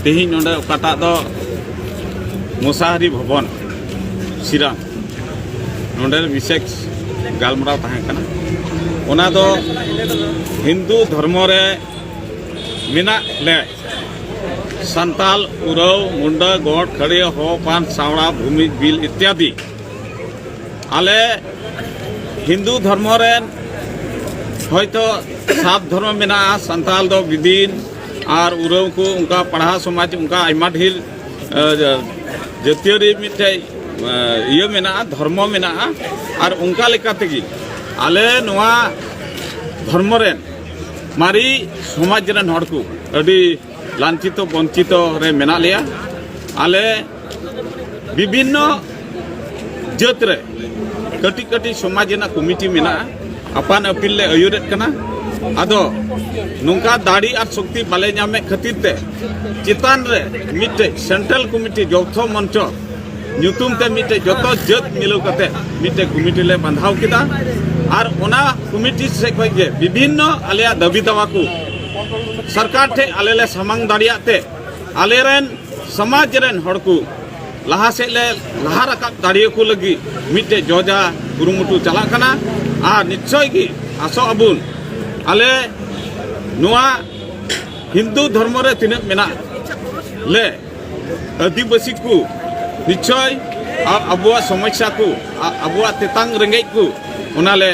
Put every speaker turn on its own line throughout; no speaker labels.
ᱛᱮᱦᱮᱧ ᱱᱚᱰᱮ ᱚᱠᱟᱴᱟᱜ ᱫᱚ ᱢᱚᱥᱟᱦᱟᱨᱤ ᱵᱷᱚᱵᱚᱱ ᱥᱤᱨᱟᱝ ᱱᱚᱰᱮ ᱵᱤᱥᱮᱥ ᱜᱟᱞᱢᱟᱨᱟᱣ ᱛᱟᱦᱮᱸ ᱠᱟᱱᱟ ᱚᱱᱟ ᱫᱚ ᱦᱤᱱᱫᱩ ᱫᱷᱚᱨᱢᱚ ᱨᱮ ᱢᱮᱱᱟᱜ ᱞᱮ ᱥᱟᱱᱛᱟᱞ ᱩᱨᱟᱹᱣ ᱢᱩᱱᱰᱟ ᱜᱚᱰ ᱠᱷᱟᱹᱲᱤᱭᱟᱹ ᱦᱚ ᱯᱟᱱ ᱥᱟᱣᱲᱟ ᱵᱷᱩᱢᱤ ᱵᱤᱞ ᱤᱛᱭᱟᱫᱤ ᱟᱞᱮ ᱦᱤᱱᱫᱩ ᱫᱷᱚᱨᱢᱚ ᱨᱮᱱ ᱦᱚᱭᱛᱚ ᱥᱟᱵ ᱫᱷᱚᱨᱢᱚ ᱢᱮᱱᱟᱜᱼᱟ ᱥᱟᱱᱛᱟᱞ ᱫᱚ ᱵᱤᱫᱤᱱ ᱟᱨ ᱩᱨᱟᱹᱣ ᱠᱚ ᱚᱱᱠᱟ ᱯᱟᱲᱦᱟᱣ ᱥᱚᱢᱟᱡᱽ ᱚᱱᱠᱟ ᱟᱭᱢᱟ ᱰᱷᱮᱨ ᱡᱟᱹᱛᱤᱭᱟᱹᱨᱤ ᱢᱤᱫᱴᱮᱡ ᱤᱭᱟᱹ ᱢᱮᱱᱟᱜᱼᱟ ᱫᱷᱚᱨᱢᱚ ᱢᱮᱱᱟᱜᱼᱟ ᱟᱨ ᱚᱱᱠᱟ ᱞᱮᱠᱟ ᱛᱮᱜᱮ ᱟᱞᱮ ᱱᱚᱣᱟ ᱫᱷᱚᱨᱢᱚ ᱨᱮᱱ ᱢᱟᱨᱮ ᱥᱚᱢᱟᱡᱽ ᱨᱮᱱ ᱦᱚᱲ ᱠᱚ ᱟᱹᱰᱤ ᱞᱟᱧᱪᱤᱛᱚ ᱵᱚᱧᱪᱤᱛᱚ ᱨᱮ ᱢᱮᱱᱟᱜ ᱞᱮᱭᱟ ᱟᱞᱮ বিভিন্ন ᱡᱟᱹᱛ ᱨᱮ ᱠᱟᱹᱴᱤᱡ ᱠᱟᱹᱴᱤᱡ ᱥᱚᱢᱟᱡᱽ ᱨᱮᱱᱟᱜ ᱠᱚᱢᱤᱴᱤ ᱢᱮᱱᱟᱜᱼᱟ ᱟᱯᱟᱱ ᱟᱹᱯᱤᱱ ᱞᱮ ᱟᱹᱭᱩᱨᱮᱫ ᱠᱟᱱᱟ ᱟᱫᱚ ᱱᱚᱝᱠᱟ ᱫᱟᱲᱮ ᱟᱨ ᱥᱚᱠᱛᱤ ᱵᱟᱞᱮ ᱧᱟᱢᱮᱫ ᱠᱷᱟᱹᱛᱤᱨ ᱛᱮ ᱪᱮᱛᱟᱱ ᱨᱮ ᱢᱤᱫᱴᱮᱡ ᱥᱮᱱᱴᱨᱟᱞ ᱠᱚᱢᱤᱴᱤ ᱡᱚᱛᱚ ᱢᱚᱧᱪᱚ ᱧᱩᱛᱩᱢ ᱛᱮ ᱢᱤᱫᱴᱮᱡ ᱡᱚᱛᱚ ᱡᱟᱹᱛ ᱢᱤᱞᱟᱹᱣ ᱠᱟᱛᱮ ᱢᱤᱫᱴᱮᱡ ᱠᱚᱢᱤᱴᱤ ᱞᱮ ᱵᱟᱸᱫᱷᱟᱣ ᱠᱮᱫᱟ ᱟᱨ ᱚᱱᱟ ᱠᱚᱢᱤᱴᱤ ᱥᱮᱫ ᱠᱷᱚᱱ ᱜᱮ ᱵᱤᱵᱷᱤᱱᱱᱚ ᱟᱞᱮᱭᱟᱜ ᱫᱟᱹᱵᱤ ᱫᱟᱣᱟ ᱠᱚ ᱥᱚᱨᱠᱟᱨ ᱴᱷᱮᱡ ᱟᱞᱮ ᱞᱮ ᱥᱟᱢᱟᱝ ᱫᱟᱲᱮᱭᱟᱜ ᱛᱮ ᱟᱞᱮ ᱨᱮᱱ ᱥᱚᱢᱟᱡᱽ ᱨᱮᱱ ᱦᱚᱲ ᱠᱚ ᱞᱟᱦᱟ ᱥᱮᱫ ᱞᱮ ᱞᱟᱦᱟ ᱨᱟᱠᱟᱵ ᱫᱟᱲᱮᱭᱟ ᱠᱚ ᱞᱟᱹᱜᱤᱫ ᱢᱤᱫᱴᱮᱡ ᱡᱚᱡᱟ ᱠᱩᱨᱩᱢᱩᱴᱩ ᱪᱟᱞᱟᱜ ᱠᱟᱱᱟ ᱟᱨ ᱱᱤᱥᱪᱚᱭ ᱜᱮ ᱟᱥᱚᱜ ᱟᱵᱚᱱ ᱟᱞᱮ ᱱᱚᱣᱟ ᱦᱤᱱᱫᱩ ᱫᱷᱚᱨᱢᱚ ᱨᱮ ᱛᱤᱱᱟᱹᱜ ᱢᱮᱱᱟᱜ ᱞᱮ ᱟᱹᱫᱤᱵᱟᱹᱥᱤ ᱠᱚ ᱱᱤᱥᱪᱚᱭ ᱟᱵᱚᱣᱟᱜ ᱥᱚᱢᱚᱥᱥᱟ ᱠᱚ ᱟᱵᱚᱣᱟᱜ ᱛᱮᱛᱟᱝ ᱨᱮᱸᱜᱮᱡ ᱠᱚ ᱚᱱᱟᱞᱮ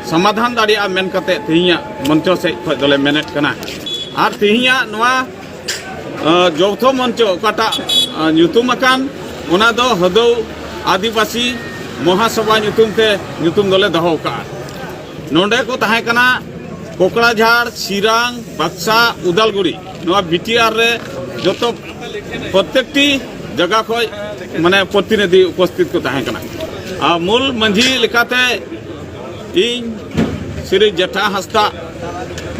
ᱥᱚᱢᱟᱫᱷᱟᱱ ᱫᱟᱲᱮᱭᱟᱜᱼᱟ ᱢᱮᱱ ᱠᱟᱛᱮ ᱛᱮᱦᱮᱧᱟᱜ ᱢᱚᱧᱪᱚ ᱥᱮᱫ ᱠᱷᱚᱱ ᱫᱚᱞᱮ ᱢᱮᱱᱮᱫ ᱠᱟᱱᱟ ᱟᱨ ᱛᱮᱦᱮᱧᱟᱜ ᱱᱚᱣᱟ ᱡᱚᱣᱛᱷᱚ ᱢᱚᱧᱪᱚ ᱚᱠᱟᱴᱟᱜ ᱧᱩᱛᱩᱢ ᱟᱠᱟᱱ ᱚᱱᱟ ᱫᱚ ᱦᱚᱫᱚᱣ ᱟᱹᱫᱤᱵᱟᱹᱥᱤ ᱢᱚᱦᱟᱥᱚᱵᱷᱟ ᱧᱩᱛᱩᱢ ᱛᱮ ᱧᱩᱛᱩᱢ ᱫᱚᱞᱮ ᱫᱚᱦᱚ ᱟᱠᱟᱫᱼᱟ ᱱᱚᱰᱮ ᱠᱚ ᱛᱟᱦᱮᱸ ᱠᱟᱱᱟ ᱠᱚᱠᱲᱟᱡᱷᱟᱲ ᱥᱤᱨᱟᱝ ᱵᱟᱠᱥᱟ ᱩᱫᱟᱞᱜᱩᱲᱤ ᱱᱚᱣᱟ ᱵᱤᱴᱤᱟᱨ ᱨᱮ ᱡᱚᱛᱚ ᱯᱨᱚᱛᱮᱠᱴᱤ ᱡᱟᱭᱜᱟ ᱠᱷᱚᱡ ᱢᱟᱱᱮ ᱯᱨᱚᱛᱤᱱᱤᱫᱷᱤ ᱩᱯᱚᱥᱛᱷᱤᱛ ᱠᱚ ᱛᱟᱦᱮᱸ ᱠᱟᱱᱟ ᱟᱨ ᱢᱩᱞ ᱢᱟᱺᱡᱷᱤ ᱞᱮᱠᱟᱛᱮ ᱤᱧ ᱥᱨᱤ ᱡᱮᱴᱷᱟ ᱦᱟᱸᱥᱫᱟ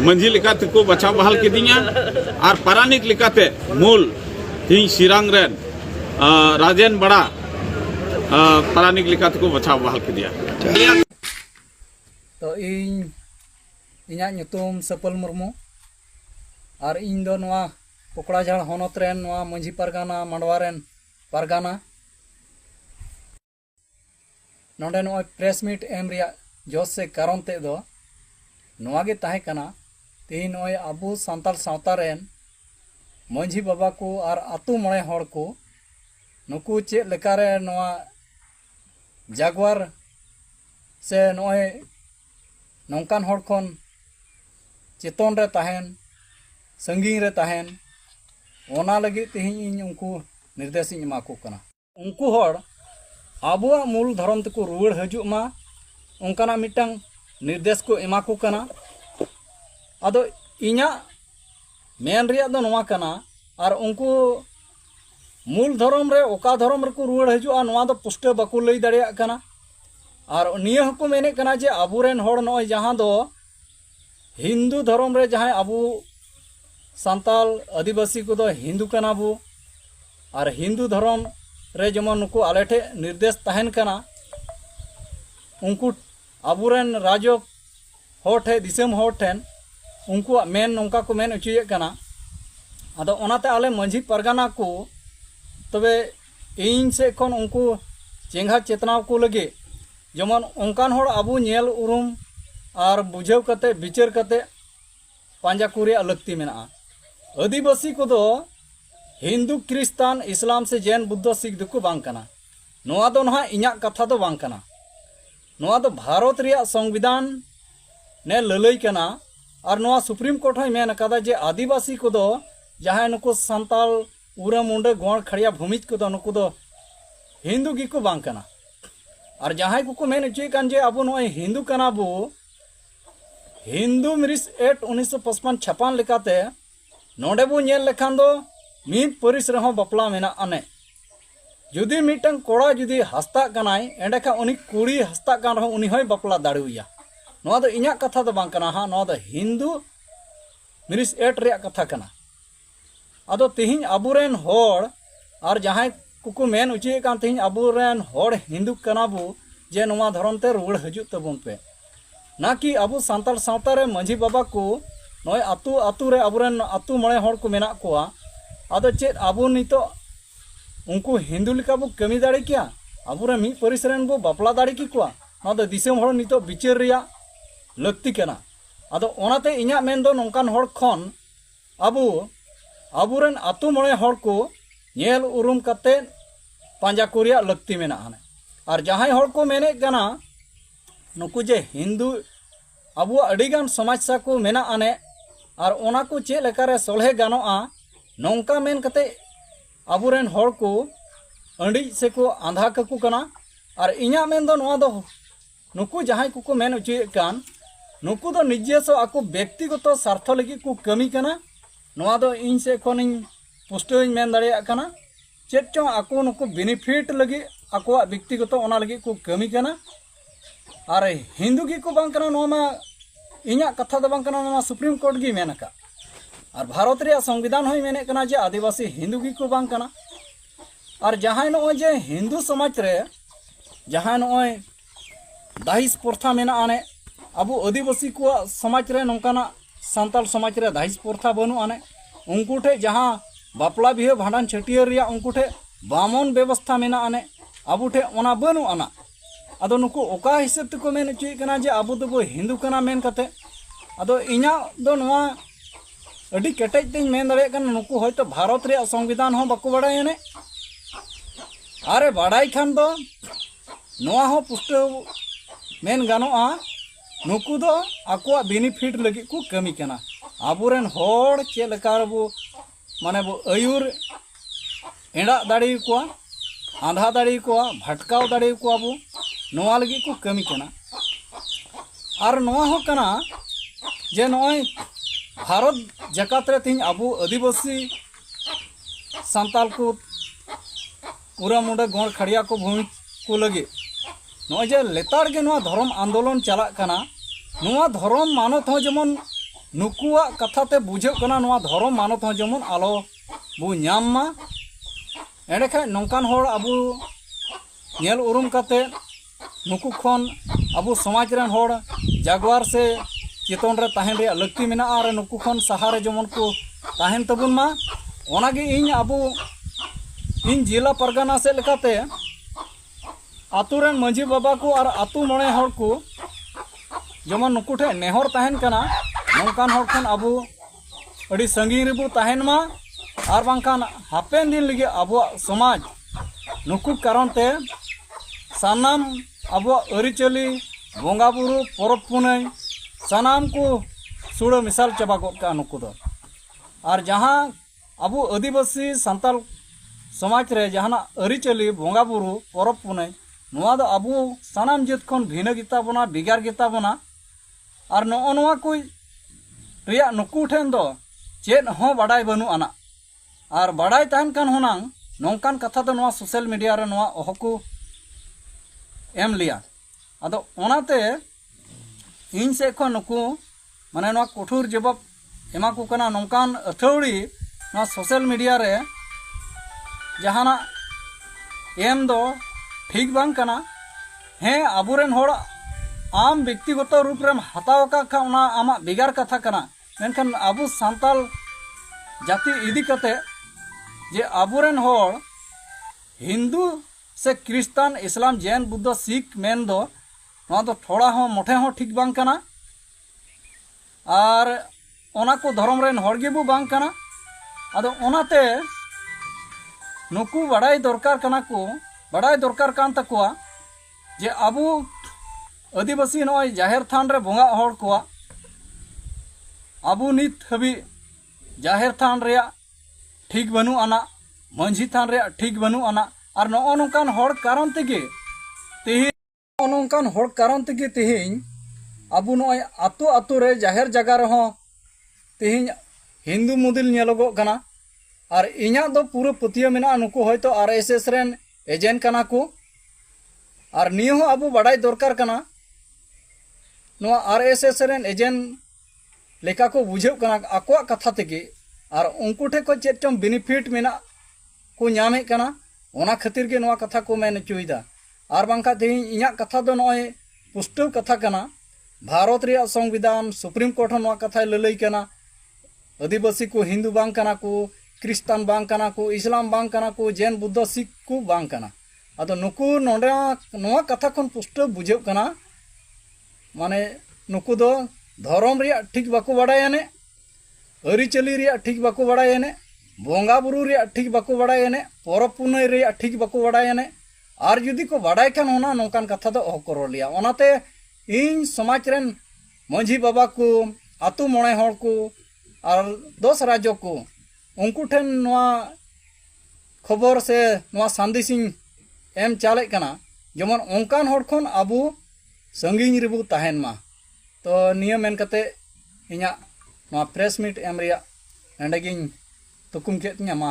ᱢᱟᱹᱡᱷᱤ ᱞᱮᱠᱟᱛᱮ ᱠᱚ ᱵᱟᱪᱷᱟᱣ ᱵᱟᱦᱟᱞ ᱠᱤᱫᱤᱧᱟ ᱟᱨ ᱯᱟᱨᱟᱱᱤᱠ ᱞᱮᱠᱟᱛᱮ ᱢᱩᱞ ᱤᱧ ᱥᱤᱨᱟᱝ ᱨᱮᱱ ᱨᱟᱡᱮᱱ ᱵᱟᱲᱟ ᱯᱟᱨᱟᱱᱤᱠ ᱞᱮᱠᱟᱛᱮ ᱠᱚ ᱵᱟᱪᱷᱟᱣ ᱵᱟᱦᱟᱞ ᱠᱤᱫᱤᱧᱟ ᱛᱚ ᱤᱧ ᱤᱧᱟᱹᱜ ᱧᱩᱛᱩᱢ ᱥᱟᱯᱟᱞ ᱢᱩᱨᱢᱩ ᱟᱨ ᱤᱧ ᱫᱚ ᱱᱚᱣᱟ ᱠᱚᱠᱲᱟᱡᱷᱟᱲ ᱦᱚᱱᱚᱛ ᱨᱮᱱ ᱱᱚᱣᱟ ᱢᱟᱹᱡᱷᱤ ᱯᱟᱨᱜᱟᱱᱟ ᱢᱟᱰᱣᱟ ᱨᱮᱱ ᱯᱟᱨᱜᱟᱱᱟ ᱱᱚᱰᱮ ᱱᱚᱜᱼᱚᱭ ᱯᱨᱮᱥ ᱢᱤᱴ ᱮᱢ ᱨᱮᱭᱟᱜ ᱡᱚᱥ ᱥᱮ ᱠᱟᱨᱚᱱ ᱛᱮᱫ ᱫᱚ ᱱᱚᱣᱟ ᱜᱮ ᱛᱟᱦᱮᱸ ᱠᱟᱱᱟ ᱛᱮᱦᱮᱧ ᱱᱚᱜᱼᱚᱭ ᱟᱵᱚ ᱥᱟᱱᱛᱟᱲ ᱥᱟᱶᱛᱟ ᱨᱮᱱ ᱢᱟᱺᱡᱷᱤ ᱵᱟᱵᱟ ᱠᱚ ᱟᱨ ᱟᱛᱳ ᱢᱚᱬᱮ ᱦᱚᱲ ᱠᱚ ᱱᱩᱠᱩ ᱪᱮᱫ ᱞᱮᱠᱟᱨᱮ ᱱᱚᱣᱟ ᱡᱟᱜᱣᱟᱨ ᱥᱮ ᱱᱚᱜᱼᱚᱭ ᱱᱚᱝᱠᱟᱱ ᱦᱚᱲ ᱠᱷᱚᱱ ᱪᱮᱛᱚᱱ ᱨᱮ ᱛᱟᱦᱮᱱ ᱥᱟᱺᱜᱤᱧ ᱨᱮ ᱛᱟᱦᱮᱱ ᱚᱱᱟ ᱞᱟᱹᱜᱤᱫ ᱛᱮᱦᱮᱧ ᱤᱧ ᱩᱱᱠᱩ ᱱᱤᱨᱫᱮᱥᱤᱧ ᱮᱢᱟ ᱠᱚ ᱠᱟᱱᱟ ᱩᱱᱠᱩ ᱦᱚᱲ ᱟᱵᱚᱣᱟᱜ ᱢᱩᱞ ᱫᱷᱚᱨᱚᱢ ᱛᱮᱠᱚ ᱨᱩᱣᱟᱹᱲ ᱦᱤᱡᱩᱜ ᱢᱟ ᱚᱱᱠᱟᱱᱟᱜ ᱢᱤᱫᱴᱟᱝ ᱱᱤᱨᱫᱮᱥ ᱠᱚ ᱮᱢᱟ ᱠᱚ ᱠᱟᱱᱟ ᱟᱫᱚ ᱤᱧᱟᱹᱜ ᱢᱮᱱ ᱨᱮᱭᱟᱜ ᱫᱚ ᱱᱚᱣᱟ ᱠᱟᱱᱟ ᱟᱨ ᱩᱱᱠᱩ ᱢᱩᱞ ᱫᱷᱚᱨᱚᱢ ᱨᱮ ᱚᱠᱟ ᱫᱷᱚᱨᱚᱢ ᱨᱮᱠᱚ ᱨᱩᱣᱟᱹᱲ ᱦᱤᱡᱩᱜᱼᱟ ᱱᱚᱣᱟ ᱫᱚ ᱯᱩᱥᱴᱟᱹᱣ ᱵᱟᱠᱚ ᱞᱟᱹᱭ ᱫᱟᱲᱮᱭᱟᱜ ᱠᱟᱱᱟ ᱟᱨ ᱱᱤᱭᱟᱹ ᱦᱚᱸᱠᱚ ᱢᱮᱱᱮᱫ ᱠᱟᱱᱟ ᱡᱮ ᱟᱵᱚᱨᱮᱱ ᱦᱚᱲ ᱱᱚᱜᱼᱚᱭ ᱡᱟᱦᱟᱸ ᱫᱚ ᱦᱤᱱᱫᱩ ᱫᱷᱚᱨᱚᱢ ᱨᱮ ᱡᱟᱦᱟᱸᱭ ᱟᱵᱚ ᱥᱟᱱᱛᱟᱞ ᱟᱹᱫᱤᱵᱟᱹᱥᱤ ᱠᱚᱫᱚ ᱦᱤᱱᱫᱩ ᱠᱟᱱᱟ ᱵᱚ ᱟᱨ ᱦᱤᱱᱫᱩ ᱫᱷᱚᱨᱚᱢ ᱨᱮ ᱡᱮᱢᱚᱱ ᱱᱩᱠᱩ ᱟᱞᱮ ᱴᱷᱮᱱ ᱱᱤᱨᱫᱮᱥ ᱛᱟᱦᱮᱱ ᱠᱟᱱᱟ ᱩᱱᱠᱩ ᱟᱵᱚ ᱨᱮᱱ ᱨᱟᱡᱚᱠ ᱦᱚᱲ ᱴᱷᱮᱱ ᱫᱤᱥᱚᱢ ᱦᱚᱲ ᱴᱷᱮᱱ ᱩᱱᱠᱩᱣᱟᱜ ᱢᱮᱱ ᱱᱚᱝᱠᱟ ᱠᱚ ᱢᱮᱱ ᱦᱚᱪᱚᱭᱮᱫ ᱠᱟᱱᱟ ᱟᱫᱚ ᱚᱱᱟᱛᱮ ᱟᱞᱮ ᱢᱟᱹᱡᱷᱤ ᱯᱟᱨᱜᱟᱱᱟ ᱠᱚ ᱛᱚᱵᱮ ᱤᱧ ᱥᱮᱫ ᱠᱷᱚᱱ ᱩᱱᱠᱩ ᱪᱮᱸᱜᱷᱟ ᱪᱮᱛᱱᱟᱣ ᱠᱚ ᱞᱟᱹᱜᱤᱫ ᱡᱮᱢᱚᱱ ᱚᱱᱠᱟᱱ ᱦᱚᱲ ᱟᱵᱚ ᱧᱮᱞ ᱩᱨᱩᱢ ᱟᱨ ᱵᱩᱡᱷᱟᱹᱣ ᱠᱟᱛᱮ ᱵᱤᱪᱟᱹᱨ ᱠᱟᱛᱮ ᱯᱟᱸᱡᱟ ᱠᱚ ᱨᱮᱭᱟᱜ ᱞᱟᱹᱠᱛᱤ ᱢᱮᱱᱟᱜᱼᱟ ᱟᱹᱫᱤᱵᱟᱹᱥᱤ ᱠᱚᱫᱚ ᱦᱤᱱᱫᱩ ᱠᱨᱤᱥᱛᱟᱱ ᱤᱥᱞᱟᱢ ᱥᱮ ᱡᱮᱱ ᱵᱩᱫᱽᱫᱷᱚ ᱥᱤᱠᱷ ᱫᱚᱠᱚ ᱵᱟᱝ ᱠᱟᱱᱟ ᱱᱚᱣᱟ ᱫᱚ ᱱᱟᱦᱟᱜ ᱤᱧᱟᱹᱜ ᱠᱟᱛᱷᱟ ᱫᱚ ᱵᱟᱝ ᱠᱟᱱᱟ ᱱᱚᱣᱟ ᱫᱚ ᱵᱷᱟᱨᱚᱛ ᱨᱮᱭᱟᱜ ᱥᱚᱝᱵᱤᱫᱷᱟᱱ ᱱᱮ ᱞᱟᱹᱞᱟᱹᱭ ᱠᱟᱱᱟ ᱟᱨ ᱱᱚᱣᱟ ᱥᱩᱯᱨᱤᱢ ᱠᱳᱨᱴ ᱦᱚᱸᱭ ᱢᱮᱱ ᱟᱠᱟᱫᱟ ᱡᱮ ᱟᱹᱫᱤᱵᱟᱹᱥᱤ ᱠᱚᱫᱚ ᱡᱟᱦᱟᱸᱭ ᱱᱩᱠᱩ ᱥᱟᱱᱛᱟᱲ ᱩᱨᱟ ᱢᱩᱸᱰᱟ ᱜᱚᱬ ᱠᱷᱟᱲᱤᱭᱟ ᱵᱷᱩᱢᱤᱡ ᱠᱚᱫᱚ ᱱᱩᱠᱩ ᱫᱚ ᱦᱤᱱᱫᱩ ᱜᱮᱠᱚ ᱵᱟᱝ ᱠᱟᱱᱟ ᱟᱨ ᱡᱟᱦᱟᱸᱭ ᱠᱚᱠᱚ ᱢᱮᱱ ᱦᱚᱪᱚᱭᱮᱫ ᱠᱟᱱ ᱡᱮ ᱟᱵᱚ ᱱᱚᱜᱼᱚᱭ ᱦᱤᱱᱫᱩ ᱠᱟᱱᱟ ᱵᱚ ᱦᱤᱱᱫᱩ ᱢᱤᱨᱤᱥ ᱮᱠᱴ ᱩᱱᱤᱥᱥᱚ ᱯᱚᱪᱯᱟᱱ ᱪᱷᱟᱯᱟᱱ ᱞᱮᱠᱟᱛᱮ ᱱᱚᱰᱮ ᱵᱚ ᱧᱮᱞ ᱞᱮᱠᱷᱟᱱ ᱫᱚ ᱢᱤᱫ ᱯᱟᱹᱨᱤᱥ ᱨᱮᱦᱚᱸ ᱵᱟᱯᱞᱟ ᱢᱮᱱᱟᱜ ᱟᱱᱮ ᱡᱩᱫᱤ ᱢᱤᱫᱴᱟᱝ ᱠᱚᱲᱟ ᱡᱩᱫᱤ ᱦᱟᱥᱛᱟᱜ ᱠᱟᱱᱟᱭ ᱮᱸᱰᱮᱠᱷᱟᱱ ᱩᱱᱤ ᱠᱩᱲᱤ ᱦᱟᱥᱛᱟᱜ ᱠᱟᱱ ᱨᱮᱦᱚᱸ ᱩᱱᱤ ᱦᱚᱸᱭ ᱵᱟᱯᱞᱟ ᱫᱟᱲᱮᱣᱟᱭᱟ ᱱᱚᱣᱟ ᱫᱚ ᱤᱧᱟᱹᱜ ᱠᱟᱛᱷᱟ ᱫᱚ ᱵᱟᱝ ᱠᱟᱱᱟ ᱦᱟᱸᱜ ᱱᱚᱣᱟ ᱫᱚ ᱦᱤᱱᱫᱩ ᱢᱤᱨᱤᱥ ᱮᱠᱴ ᱨᱮᱭᱟᱜ ᱠᱟᱛᱷᱟ ᱠᱟᱱᱟ ᱟᱫᱚ ᱛᱮᱦᱮᱧ ᱟᱵᱚᱨᱮᱱ ᱦᱚᱲ ᱟᱨ ᱡᱟᱦᱟᱸᱭ ᱠᱚᱠᱚ ᱢᱮᱱ ᱚᱪᱚᱭᱮᱫ ᱠᱟᱱ ᱛᱮᱦᱮᱧ ᱟᱵᱚᱨᱮᱱ ᱦᱚᱲ ᱦᱤᱱᱫᱩ ᱠᱟᱱᱟ ᱵᱚ ᱡᱮ ᱱᱚᱣᱟ ᱫᱷᱚᱨᱚᱢ ᱛᱮ ᱨᱩᱣᱟᱹᱲ ᱦᱤᱡᱩᱜ ᱛᱟᱵᱚᱱ ᱯᱮ ᱱᱟᱠᱤ ᱟᱵᱚ ᱥᱟᱱᱛᱟᱲ ᱥᱟᱶᱛᱟ ᱨᱮ ᱢᱟᱹᱡᱷᱤ ᱵᱟᱵᱟ ᱠᱚ ᱱᱚᱜᱼᱚᱭ ᱟᱛᱳ ᱟᱛᱳ ᱨᱮ ᱟᱵᱚᱨᱮᱱ ᱟᱛᱳ ᱢᱚᱬᱮ ᱦᱚᱲ ᱠᱚ ᱢᱮᱱᱟᱜ ᱠᱚᱣᱟ ᱟᱫᱚ ᱪᱮᱫ ᱟᱵᱚ ᱱᱤᱛᱚᱜ ᱩᱱᱠᱩ ᱦᱤᱱᱫᱩ ᱞᱮᱠᱟ ᱵᱚ ᱠᱟᱹᱢᱤ ᱫᱟᱲᱮ ᱠᱮᱭᱟ ᱟᱵᱚᱨᱮᱱ ᱢᱤᱫ ᱯᱟᱹᱨᱤᱥ ᱨᱮᱱ ᱵᱚ ᱵᱟᱯᱞᱟ ᱫᱟᱲᱮ ᱠᱮᱠᱚᱣᱟ ᱱᱚᱣᱟ ᱫᱚ ᱫᱤᱥᱚᱢ ᱦᱚᱲ ᱱᱤᱛᱚᱜ ᱵᱤᱪᱟᱹᱨ ᱨᱮᱭᱟᱜ ᱞᱟᱹᱠᱛᱤ ᱠᱟᱱᱟ ᱟᱫᱚ ᱚᱱᱟᱛᱮ ᱤᱧᱟᱹᱜ ᱢᱮᱱ ᱫᱚ ᱱᱚᱝᱠᱟᱱ ᱦᱚᱲ ᱠᱷᱚᱱ ᱟᱵᱚ ᱟᱵᱚᱨᱮᱱ ᱟᱛᱳ ᱢᱚᱬᱮ ᱦᱚᱲ ᱠᱚ ᱧᱮᱞ ᱩᱨᱩᱢ ᱠᱟᱛᱮ ᱯᱟᱸᱡᱟ ᱠᱚ ᱨᱮᱭᱟᱜ ᱞᱟᱹᱠᱛᱤ ᱢᱮᱱᱟᱜᱼᱟ ᱟᱨ ᱡᱟᱦᱟᱸᱭ ᱦᱚᱲ ᱠᱚ ᱢᱮᱱᱮᱫ ᱠᱟᱱᱟ ᱱᱩᱠᱩ ᱡᱮ ᱦᱤᱱᱫᱩ ᱟᱵᱚᱣᱟᱜ ᱟᱹᱰᱤᱜᱟᱱ ᱥᱚᱢᱟᱡᱽᱥᱟ ᱠᱚ ᱢᱮᱱᱟᱜ ᱟᱱᱮ ᱟᱨ ᱚᱱᱟ ᱠᱚ ᱪᱮᱫ ᱞᱮᱠᱟᱨᱮ ᱥᱚᱞᱦᱮ ᱜᱟᱱᱚᱜᱼᱟ ᱱᱚᱝᱠᱟ ᱢᱮᱱ ᱠᱟᱛᱮ ᱟᱵᱚᱨᱮᱱ ᱦᱚᱲ ᱠᱚ ᱟᱹᱰᱤᱡ ᱥᱮᱠᱚ ᱟᱸᱫᱷᱟ ᱠᱟᱠᱚ ᱠᱟᱱᱟ ᱟᱨ ᱤᱧᱟᱹᱜ ᱢᱮᱱ ᱫᱚ ᱱᱚᱣᱟ ᱫᱚ ᱱᱩᱠᱩ ᱡᱟᱦᱟᱸᱭ ᱠᱚᱠᱚ ᱢᱮᱱ ᱚᱪᱚᱭᱮᱫ ᱠᱟᱱ ᱱᱩᱠᱩ ᱫᱚ ᱱᱤᱡᱮᱥᱚ ᱟᱠᱚ ᱵᱮᱠᱛᱤᱜᱚᱛᱚ ᱥᱟᱨᱛᱷᱚ ᱞᱟᱹᱜᱤᱫ ᱠᱚ ᱠᱟᱹᱢᱤ ᱠᱟᱱᱟ ᱱᱚᱣᱟ ᱫᱚ ᱤᱧ ᱥᱮᱫ ᱠᱷᱚᱱᱤᱧ ᱯᱩᱥᱴᱟᱹᱣᱤᱧ ᱢᱮᱱ ᱫᱟᱲᱮᱭᱟᱜ ᱠᱟᱱᱟ ᱪᱮᱫ ᱪᱚᱝ ᱟᱠᱚ ᱱᱩᱠᱩ ᱵᱮᱱᱤᱯᱷᱤᱴ ᱞᱟᱹᱜᱤᱫ ᱟᱠᱚᱣᱟᱜ ᱵᱮᱠᱛᱤᱜᱚᱛᱚ ᱚᱱᱟ ᱞᱟᱹᱜᱤᱫ ᱠᱚ ᱠᱟᱹᱢᱤ ᱠᱟᱱᱟ ᱟᱨ ᱦᱤᱱᱫᱩ ᱜᱮᱠᱚ ᱵᱟᱝ ᱠᱟᱱᱟ ᱱᱚᱣᱟ ᱢᱟ ᱤᱧᱟᱹᱜ ᱠᱟᱛᱷᱟ ᱫᱚ ᱵᱟᱝ ᱠᱟᱱᱟ ᱱᱚᱣᱟ ᱥᱩᱯᱨᱤᱢ ᱠᱳᱨᱴ ᱜᱮ ᱢᱮᱱ ᱟᱠᱟᱫ ᱟᱨ ᱵᱷᱟᱨᱚᱛ ᱨᱮᱭᱟᱜ ᱥᱚᱝᱵᱤᱫᱷᱟᱱ ᱦᱚᱸᱭ ᱢᱮᱱᱮᱫ ᱠᱟᱱᱟ ᱡᱮ ᱟᱹᱫᱤᱵᱟᱹᱥᱤ ᱦᱤᱱᱫᱩ ᱜᱮᱠᱚ ᱵᱟᱝ ᱠᱟᱱᱟ ᱟᱨ ᱡᱟᱦᱟᱸᱭ ᱱᱚᱜᱼᱚᱭ ᱡᱮ ᱦᱤᱱᱫᱩ ᱥᱚᱢᱟᱡᱽ ᱨᱮ ᱡᱟᱦᱟᱸ ᱱᱚᱜᱼᱚᱭ ᱫᱟᱦᱤᱥ ᱯᱨᱚᱛᱷᱟ ᱢᱮᱱᱟᱜᱼᱟ ᱟᱱᱮ ᱟᱵᱚ ᱟᱹᱫᱤᱵᱟᱹᱥᱤ ᱠᱚᱣᱟᱜ ᱥᱚᱢᱟᱡᱽ ᱨᱮ ᱱᱚᱝᱠᱟᱱᱟᱜ ᱥᱟᱱᱛᱟᱲ ᱥᱚᱢᱟᱡᱽ ᱨᱮ ᱫᱟᱦᱤᱥ ᱯᱨᱚᱛᱷᱟ ᱵᱟᱹᱱᱩᱜ ᱟᱱᱮ ᱩᱱᱠᱩ ᱴᱷᱮᱡ ᱡᱟᱦᱟᱸ ᱵᱟᱯᱞᱟ ᱵᱤᱦᱟᱹ ᱵᱷᱟᱸᱰᱟᱱ ᱪᱷᱟᱹᱴᱭᱟᱹᱨ ᱨᱮᱭᱟᱜ ᱩᱱᱠᱩ ᱴᱷᱮᱡ ᱵᱟᱢᱚᱱ ᱵᱮᱵᱚᱥᱛᱷᱟ ᱢᱮᱱᱟᱜ ᱟᱱᱮ ᱟᱵᱚ ᱴᱷᱮᱡ ᱚᱱᱟ ᱵᱟᱹᱱᱩᱜ ᱟᱱᱟᱜ ᱟᱫᱚ ᱱᱩᱠᱩ ᱚᱠᱟ ᱦᱤᱥᱟᱹᱵ ᱛᱮᱠᱚ ᱢᱮᱱ ᱦᱚᱪᱚᱭᱮᱫ ᱠᱟᱱᱟ ᱡᱮ ᱟᱵᱚ ᱫᱚᱵᱚ ᱦᱤᱱᱫᱩ ᱠᱟᱱᱟ ᱢᱮᱱ ᱠᱟᱛᱮ ᱟᱫᱚ ᱤᱧᱟᱹᱜ ᱫᱚ ᱱᱚᱣᱟ ᱟᱹᱰᱤ ᱠᱮᱴᱮᱡ ᱛᱮᱧ ᱢᱮᱱ ᱫᱟᱲᱮᱭᱟᱜ ᱠᱟᱱᱟ ᱱᱩᱠᱩ ᱦᱚᱭᱛᱚ ᱵᱷᱟᱨᱚᱛ ᱨᱮᱭᱟᱜ ᱥᱚᱝᱵᱤᱫᱷᱟᱱ ᱦᱚᱸ ᱵᱟᱠᱚ ᱵᱟᱲᱟᱭ ᱟᱹᱱᱤᱡ ᱟᱨᱮ ᱵᱟᱲᱟᱭ ᱠᱷᱟᱱ ᱫᱚ ᱱᱚᱣᱟ ᱦᱚᱸ ᱯᱩᱥᱴᱟᱹᱣ ᱢᱮᱱ ᱜᱟᱱᱚᱜᱼᱟ ᱱᱩᱠᱩ ᱫᱚ ᱟᱠᱚᱣᱟᱜ ᱵᱮᱱᱤᱯᱷᱤᱴ ᱞᱟᱹᱜᱤᱫ ᱠᱚ ᱠᱟᱹᱢᱤ ᱠᱟᱱᱟ ᱟᱵᱚᱨᱮᱱ ᱦᱚᱲ ᱪᱮᱫ ᱞᱮᱠᱟ ᱨᱮᱵᱚ ᱢᱟᱱᱮ ᱵᱚ ᱟᱹᱭᱩᱨ ᱮᱸᱲᱟᱜ ᱫᱟᱲᱮᱭᱟᱠᱚᱣᱟ ᱟᱸᱫᱷᱟ ᱫᱟᱲᱮᱭᱟᱠᱚᱣᱟ ᱵᱷᱟᱴᱠᱟᱣ ᱫᱟᱲᱮᱭᱟᱠᱚᱣᱟ ᱵᱚ ᱱᱚᱣᱟ ᱞᱟᱹᱜᱤᱫ ᱠᱚ ᱠᱟᱹᱢᱤ ᱠᱟᱱᱟ ᱟᱨ ᱱᱚᱣᱟ ᱦᱚᱸ ᱠᱟᱱᱟ ᱡᱮ ᱱᱚᱜᱼᱚᱭ ᱵᱷᱟᱨᱚᱛ ᱡᱟᱠᱟᱛ ᱨᱮ ᱛᱮᱦᱮᱧ ᱟᱵᱚ ᱟᱹᱫᱤᱵᱟᱹᱥᱤ ᱥᱟᱱᱛᱟᱲ ᱠᱚ ᱠᱩᱨᱟᱹ ᱢᱩᱸᱰᱟᱹ ᱜᱚᱲ ᱠᱷᱟᱲᱤᱭᱟ ᱠᱚ ᱵᱷᱩᱢᱤ ᱠᱚ ᱞᱟᱹᱜᱤᱫ ᱱᱚᱜᱼᱚᱭ ᱡᱮ ᱞᱮᱛᱟᱲ ᱜᱮ ᱱᱚᱣᱟ ᱫᱷᱚᱨᱚᱢ ᱟᱱᱫᱳᱞᱚᱱ ᱪᱟᱞᱟᱜ ᱠᱟᱱᱟ ᱱᱚᱣᱟ ᱫᱷᱚᱨᱚᱢ ᱢᱟᱱᱚᱛ ᱦᱚᱸ ᱡᱮᱢᱚᱱ ᱱᱩᱠᱩᱣᱟᱜ ᱠᱟᱛᱷᱟ ᱛᱮ ᱵᱩᱡᱷᱟᱹᱜ ᱠᱟᱱᱟ ᱱᱚᱣᱟ ᱫᱷᱚᱨᱚᱢ ᱢᱟᱱᱚᱛ ᱦᱚᱸ ᱡᱮᱢᱚᱱ ᱟᱞᱚ ᱵᱚ ᱧᱟᱢ ᱢᱟ ᱮᱸᱰᱮᱠᱷᱟᱱ ᱱᱚᱝᱠᱟᱱ ᱦᱚᱲ ᱟᱵᱚ ᱧᱮᱞ ᱩᱨᱩᱢ ᱠᱟᱛᱮᱫ ᱱᱩᱠᱩ ᱠᱷᱚᱱ ᱟᱵᱚ ᱥᱚᱢᱟᱡᱽ ᱨᱮᱱ ᱦᱚᱲ ᱡᱟᱜᱽᱣᱟᱨ ᱥᱮ ᱪᱮᱛᱚᱱ ᱨᱮ ᱛᱟᱦᱮᱱ ᱨᱮᱭᱟᱜ ᱞᱟᱹᱠᱛᱤ ᱢᱮᱱᱟᱜᱼᱟ ᱟᱨ ᱱᱩᱠᱩ ᱠᱷᱚᱱ ᱥᱟᱦᱟ ᱨᱮ ᱡᱮᱢᱚᱱ ᱠᱚ ᱛᱟᱦᱮᱱ ᱛᱟᱵᱚᱱ ᱢᱟ ᱚᱱᱟᱜᱮ ᱤᱧ ᱟᱵᱚ ᱤᱧ ᱡᱮᱞᱟ ᱯᱟᱨᱜᱟᱱᱟ ᱥᱮᱫ ᱞᱮᱠᱟᱛᱮ ᱟᱛᱳ ᱨᱮᱱ ᱢᱟᱺᱡᱷᱤ ᱵᱟᱵᱟ ᱠᱚ ᱟᱨ ᱟᱛᱳ ᱢᱚᱬᱮ ᱦᱚᱲ ᱠᱚ ᱡᱮᱢᱚᱱ ᱱᱩᱠᱩ ᱴᱷᱮᱱ ᱱᱮᱦᱚᱨ ᱛᱟᱦᱮᱱ ᱠᱟᱱᱟ ᱱᱚᱝᱠᱟᱱ ᱦᱚᱲ ᱴᱷᱮᱱ ᱟᱵᱚ ᱟᱹᱰᱤ ᱥᱟᱺᱜᱤᱧ ᱨᱮᱵᱚ ᱛᱟᱦᱮᱱ ᱢᱟ ᱟᱨ ᱵᱟᱝᱠᱷᱟᱱ ᱦᱟᱯᱮᱱ ᱫᱤᱱ ᱞᱟᱹᱜᱤᱫ ᱟᱵᱚᱣᱟᱜ ᱥᱚᱢᱟᱡᱽ ᱱᱩᱠᱩ ᱠᱟᱨᱚᱱ ᱛᱮ ᱥᱟᱱᱟᱢ ᱟᱵᱚᱣᱟᱜ ᱟᱹᱨᱤᱪᱟᱹᱞᱤ ᱵᱚᱸᱜᱟ ᱵᱩᱨᱩ ᱯᱚᱨᱚᱵᱽ ᱯᱩᱱᱟᱹᱭ ᱥᱟᱱᱟᱢ ᱠᱚ ᱥᱩᱲᱟᱹ ᱢᱮᱥᱟᱞ ᱪᱟᱵᱟ ᱜᱚᱫ ᱠᱟᱜᱼᱟ ᱱᱩᱠᱩ ᱫᱚ ᱟᱨ ᱡᱟᱦᱟᱸ ᱟᱵᱚ ᱟᱹᱫᱤᱵᱟᱹᱥᱤ ᱥᱟᱱᱛᱟᱲ ᱥᱚᱢᱟᱡᱽ ᱨᱮ ᱡᱟᱦᱟᱱᱟᱜ ᱟᱹᱨᱤᱪᱟᱹᱞᱤ ᱵᱚᱸᱜᱟ ᱵᱩᱨᱩ ᱯᱚᱨᱚᱵᱽ ᱯᱩᱱᱟᱹᱭ ᱱᱚᱣᱟ ᱫᱚ ᱟᱵᱚ ᱥᱟᱱᱟᱢ ᱡᱟᱹᱛ ᱠᱷᱚᱱ ᱵᱷᱤᱱᱟᱹ ᱜᱮᱛᱟ ᱵᱚᱱᱟ ᱵᱷᱮᱜᱟᱨ ᱜᱮᱛᱟ ᱵᱚᱱᱟ ᱟᱨ ᱱᱚᱜᱼᱚ ᱱᱚᱣᱟ ᱠᱚ ᱨᱮᱭᱟᱜ ᱱᱩᱠᱩ ᱴᱷᱮᱱ ᱫᱚ ᱪᱮᱫ ᱦᱚᱸ ᱵᱟᱰᱟᱭ ᱵᱟᱹᱱᱩᱜ ᱟᱱᱟᱜ ᱟᱨ ᱵᱟᱰᱟᱭ ᱛᱟᱦᱮᱱ ᱠᱟᱱ ᱦᱩᱱᱟᱝ ᱱᱚᱝᱠᱟᱱ ᱠᱟᱛᱷᱟ ᱫᱚ ᱱᱚᱣᱟ ᱥᱳᱥᱟᱞ ᱢᱤᱰᱤᱭᱟ ᱨᱮ ᱱᱚᱣᱟ ᱚᱦᱚ ᱠᱚ ᱮᱢ ᱞᱮᱭᱟ ᱟᱫᱚ ᱚᱱᱟᱛᱮ ᱤᱧ ᱥᱮᱫ ᱠᱷᱚᱱ ᱱᱩᱠᱩ ᱢᱟᱱᱮ ᱱᱚᱣᱟ ᱠᱚᱴᱷᱳᱨ ᱡᱚᱵᱟᱵᱽ ᱮᱢᱟ ᱠᱚ ᱠᱟᱱᱟ ᱱᱚᱝᱠᱟᱱ ᱟᱹᱛᱷᱟᱹᱣᱲᱤ ᱱᱚᱣᱟ ᱥᱳᱥᱟᱞ ᱢᱤᱰᱤᱭᱟ ᱨᱮ ᱡᱟᱦᱟᱱᱟᱜ ᱮᱢ ᱫᱚ ᱴᱷᱤᱠ ᱵᱟᱝ ᱠᱟᱱᱟ ᱦᱮᱸ ᱟᱵᱚᱨᱮᱱ ᱦᱚᱲ ᱟᱢ ᱵᱮᱠᱛᱤᱜᱚᱛᱚ ᱨᱩᱯ ᱨᱮᱢ ᱦᱟᱛᱟᱣ ᱟᱠᱟᱫ ᱠᱷᱟᱱ ᱚᱱᱟ ᱟᱢᱟᱜ ᱵᱷᱮᱜᱟᱨ ᱠᱟᱛᱷᱟ ᱠᱟᱱᱟ ᱢᱮᱱᱠᱷᱟᱱ ᱟᱵᱚ ᱥᱟᱱᱛᱟᱞ ᱡᱟᱹᱛᱤ ᱤᱫᱤ ᱠᱟᱛᱮ ᱡᱮ ᱟᱵᱚᱨᱮᱱ ᱦᱚᱲ ᱦᱤᱱᱫᱩ ᱥᱮ ᱠᱨᱤᱥᱛᱟᱱ ᱤᱥᱞᱟᱢ ᱡᱮᱱ ᱵᱩᱫᱽᱫᱷᱚ ᱥᱤᱠᱷ ᱢᱮᱱ ᱫᱚ ᱱᱚᱣᱟ ᱫᱚ ᱛᱷᱚᱲᱟ ᱦᱚᱸ ᱢᱚᱴᱷᱮ ᱦᱚᱸ ᱴᱷᱤᱠ ᱵᱟᱝ ᱠᱟᱱᱟ ᱟᱨ ᱚᱱᱟ ᱠᱚ ᱫᱷᱚᱨᱚᱢ ᱨᱮᱱ ᱦᱚᱲ ᱜᱮᱵᱚ ᱵᱟᱝ ᱠᱟᱱᱟ ᱟᱫᱚ ᱚᱱᱟᱛᱮ ᱱᱩᱠᱩ ᱵᱟᱲᱟᱭ ᱫᱚᱨᱠᱟᱨ ᱠᱟᱱᱟ ᱠᱚ ᱵᱟᱲᱟᱭ ᱫᱚᱨᱠᱟᱨ ᱠᱟᱱ ᱛᱟᱠᱚᱣᱟ ᱡᱮ ᱟᱵᱚ ᱟᱹᱫᱤᱵᱟᱹᱥᱤ ᱱᱚᱜᱼᱚᱭ ᱡᱟᱦᱮᱨ ᱛᱷᱟᱱ ᱨᱮ ᱵᱚᱸᱜᱟᱜ ᱦᱚᱲ ᱠᱚᱣᱟᱜ ᱟᱵᱚ ᱱᱤᱛ ᱦᱟᱹᱵᱤᱡ ᱡᱟᱦᱮᱨ ᱛᱷᱟᱱ ᱨᱮᱭᱟᱜ ᱴᱷᱤᱠ ᱵᱟᱹᱱᱩᱜ ᱟᱱᱟ ᱢᱟᱹᱡᱷᱤ ᱛᱷᱟᱱ ᱨᱮᱭᱟᱜ ᱴᱷᱤᱠ ᱵᱟᱹᱱᱩᱜ ᱟᱱᱟ ᱟᱨ ᱱᱚᱜᱼᱚ ᱱᱚᱝᱠᱟᱱ ᱦᱚᱲ ᱠᱟᱨᱚᱱ ᱛᱮᱜᱮ ᱛᱮᱦᱮᱧ ᱱᱚᱝᱠᱟᱱ ᱦᱚᱲ ᱠᱟᱨᱚᱱ ᱛᱮᱜᱮ ᱛᱮᱦᱮᱧ ᱟᱵᱚ ᱱᱚᱜᱼᱚᱭ ᱟᱛᱳ ᱟᱛᱳ ᱨᱮ ᱡᱟᱦᱮᱨ ᱡᱟᱭᱜᱟ ᱨᱮᱦᱚᱸ ᱛᱮᱦᱮᱧ ᱦᱤᱱᱫᱩ ᱢᱩᱫᱤᱞ ᱧᱮᱞᱚᱜᱚᱜ ᱠᱟᱱᱟ ᱟᱨ ᱤᱧᱟᱹᱜ ᱫᱚ ᱯᱩᱨᱟᱹ ᱯᱟᱹᱛᱭᱟᱹᱣ ᱢᱮᱱᱟᱜᱼᱟ ᱱᱩᱠᱩ ᱦᱚᱭᱛᱳ ᱟᱨ ᱮᱥ ᱮᱥ ᱨᱮᱱ ᱮᱡᱮᱱᱴ ᱠᱟᱱᱟ ᱠᱚ ᱟᱨ ᱱᱤᱭᱟᱹ ᱦᱚᱸ ᱟᱵᱚ ᱵᱟᱰᱟᱭ ᱫᱚᱨᱠᱟᱨ ᱠᱟᱱᱟ ᱱᱚᱣᱟ ᱟᱨ ᱮᱥ ᱮᱥ ᱨᱮᱱ ᱮᱡᱮᱱᱴ ᱞᱮᱠᱟ ᱠᱚ ᱵᱩᱡᱷᱟᱹᱜ ᱠᱟᱱᱟ ᱟᱠᱚᱣᱟᱜ ᱠᱟᱛᱷᱟ ᱛᱮᱜᱮ ᱟᱨ ᱩᱱᱠᱩ ᱴᱷᱮᱱ ᱠᱷᱚᱱ ᱪᱮᱫ ᱪᱚᱝ ᱵᱮᱱᱤᱯᱷᱤᱴ ᱢᱮᱱᱟᱜ ᱠᱚ ᱧᱟᱢᱮᱫ ᱠᱟᱱᱟ ᱚᱱᱟ ᱠᱷᱟᱹᱛᱤᱨ ᱜᱮ ᱱᱚᱣᱟ ᱠᱟᱛᱷᱟ ᱠᱚ ᱢᱮᱱ ᱦᱚᱪᱚᱭᱮᱫᱟ ᱟᱨ ᱵᱟᱝᱠᱷᱟᱱ ᱛᱮᱦᱮᱧ ᱤᱧᱟᱹᱜ ᱠᱟᱛᱷᱟ ᱫᱚ ᱱᱚᱜᱼᱚᱭ ᱯᱩᱥᱴᱟᱹᱣ ᱠᱟᱛᱷᱟ ᱠᱟᱱᱟ ᱵᱷᱟᱨᱚᱛ ᱨᱮᱭᱟᱜ ᱥᱚᱝᱵᱤᱫᱷᱟᱱ ᱥᱩᱯᱨᱤᱢ ᱠᱳᱨᱴ ᱦᱚᱸ ᱱᱚᱣᱟ ᱠᱟᱛᱷᱟᱭ ᱞᱟᱹᱞᱟᱹᱭ ᱠᱟᱱᱟ ᱟᱹᱫᱤᱵᱟᱹᱥᱤ ᱠᱚ ᱦᱤᱱᱫᱩ ᱵᱟᱝ ᱠᱟᱱᱟ ᱠᱚ ᱠᱨᱤᱥᱴᱟᱱ ᱵᱟᱝ ᱠᱟᱱᱟ ᱠᱚ ᱤᱥᱞᱟᱢ ᱵᱟᱝ ᱠᱟᱱᱟ ᱠᱚ ᱡᱮᱱ ᱵᱩᱫᱽᱫᱷᱚ ᱥᱤᱠᱷ ᱠᱚ ᱵᱟᱝ ᱠᱟᱱᱟ ᱟᱫᱚ ᱱᱩᱠᱩ ᱱᱚᱰᱮ ᱱᱚᱣᱟ ᱠᱟᱛᱷᱟ ᱠᱷᱚᱱ ᱯᱩᱥᱴᱟᱹᱣ ᱵᱩᱡᱷᱟᱹᱜ ᱠᱟᱱᱟ ᱢᱟᱱᱮ ᱱᱩᱠᱩ ᱫᱚ ᱫᱷᱚᱨᱚᱢ ᱨᱮᱭᱟᱜ ᱴᱷᱤᱠ ᱵᱟᱠᱚ ᱵᱟᱰᱟᱭ ᱟᱹᱱᱤᱡ ᱟᱹᱨᱤᱪᱟᱹᱞᱤ ᱨᱮᱭᱟᱜ ᱴᱷᱤᱠ ᱵᱟᱠᱚ ᱵᱟᱲᱟᱭ ᱮᱱᱮᱡ ᱵᱚᱸᱜᱟ ᱵᱩᱨᱩ ᱨᱮᱭᱟᱜ ᱴᱷᱤᱠ ᱵᱟᱠᱚ ᱵᱟᱲᱟᱭ ᱮᱱᱮᱡ ᱯᱚᱨᱚᱵᱽ ᱯᱩᱱᱟᱹᱭ ᱨᱮᱭᱟᱜ ᱴᱷᱤᱠ ᱵᱟᱠᱚ ᱵᱟᱲᱟᱭ ᱮᱱᱮᱡ ᱟᱨ ᱡᱩᱫᱤ ᱠᱚ ᱵᱟᱰᱟᱭ ᱠᱷᱟᱱ ᱚᱱᱟ ᱱᱚᱝᱠᱟᱱ ᱠᱟᱛᱷᱟ ᱫᱚ ᱚᱦᱚ ᱠᱚ ᱨᱚᱲ ᱞᱮᱭᱟ ᱚᱱᱟᱛᱮ ᱤᱧ ᱥᱚᱢᱟᱡᱽ ᱨᱮᱱ ᱢᱟᱺᱡᱷᱤ ᱵᱟᱵᱟ ᱠᱚ ᱟᱛᱳ ᱢᱚᱬᱮ ᱦᱚᱲ ᱠᱚ ᱟᱨ ᱫᱚᱥ ᱨᱟᱡᱽᱡᱚ ᱠᱚ ᱩᱱᱠᱩ ᱴᱷᱮᱱ ᱱᱚᱣᱟ ᱠᱷᱚᱵᱚᱨ ᱥᱮ ᱱᱚᱣᱟ ᱥᱟᱸᱫᱮᱥ ᱤᱧ ᱮᱢ ᱪᱟᱞᱮᱫ ᱠᱟᱱᱟ ᱡᱮᱢᱚᱱ ᱚᱱᱠᱟᱱ ᱦᱚᱲ ᱠᱷᱚᱱ ᱟᱵᱚ ᱥᱟᱺᱜᱤᱧ ᱨᱮᱵᱚ ᱛᱟᱦᱮᱱ ᱢᱟ ᱛᱚ ᱱᱤᱭᱟᱹ ᱢᱮᱱ ᱠᱟᱛᱮ ᱤᱧᱟᱹᱜ ᱱᱚᱣᱟ ᱯᱨᱮᱥ ᱢᱤᱴ ᱮᱢ ᱨᱮᱭᱟᱜ ᱱᱚᱰᱮ ᱜᱤᱧ ᱛᱩᱠᱩᱢ ᱠᱮᱫ ᱛᱤᱧᱟᱹ ᱢᱟ